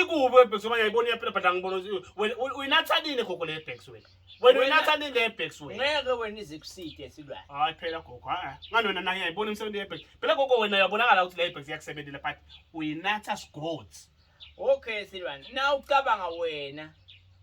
Ikubi webhekisi uma yayibona iyaphila but angibona wena uyinatha nini gogo le yebhekisi wena. Wena Wena- uyinatha nini le yebhekisi wena. ngeke wena izikuside esilwane Hayi phela gogo ha. Ngani wena naye yayibona imisebenzi yebhekisi. Phela gogo wena uyabonakala ukuthi le yebhekisi iyakusebenzela but uyinatha sigothi. okay silwane na ucabanga wena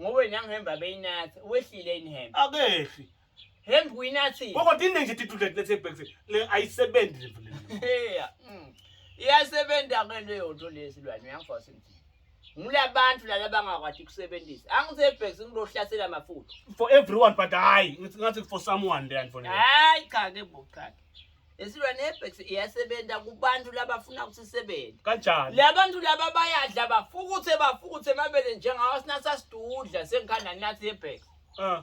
ngowena ngihemba beyinatha wehlile inihemba Akehli. Hembi kuyinathi. Koko tinde nje titudle lethe bags le ayisebenzi le vele. Yeah. Mm. Iyasebenza ke leyo nto lesilwane uyangifasa nje. Ngulabantu lala bangakwati kusebenzisa. Angise bags ngilohlasela mafutha. For everyone but hayi ngithi ngathi for someone le anfonela. Hayi cha ke bo cha. Esilwane ebags iyasebenza kubantu labafuna ukuthi isebenze. Kanjani? Labantu laba bayadla bafukuthe bafukuthe mabele njengawo sinasa sidudla sengikhanda nathi ebags. Ah.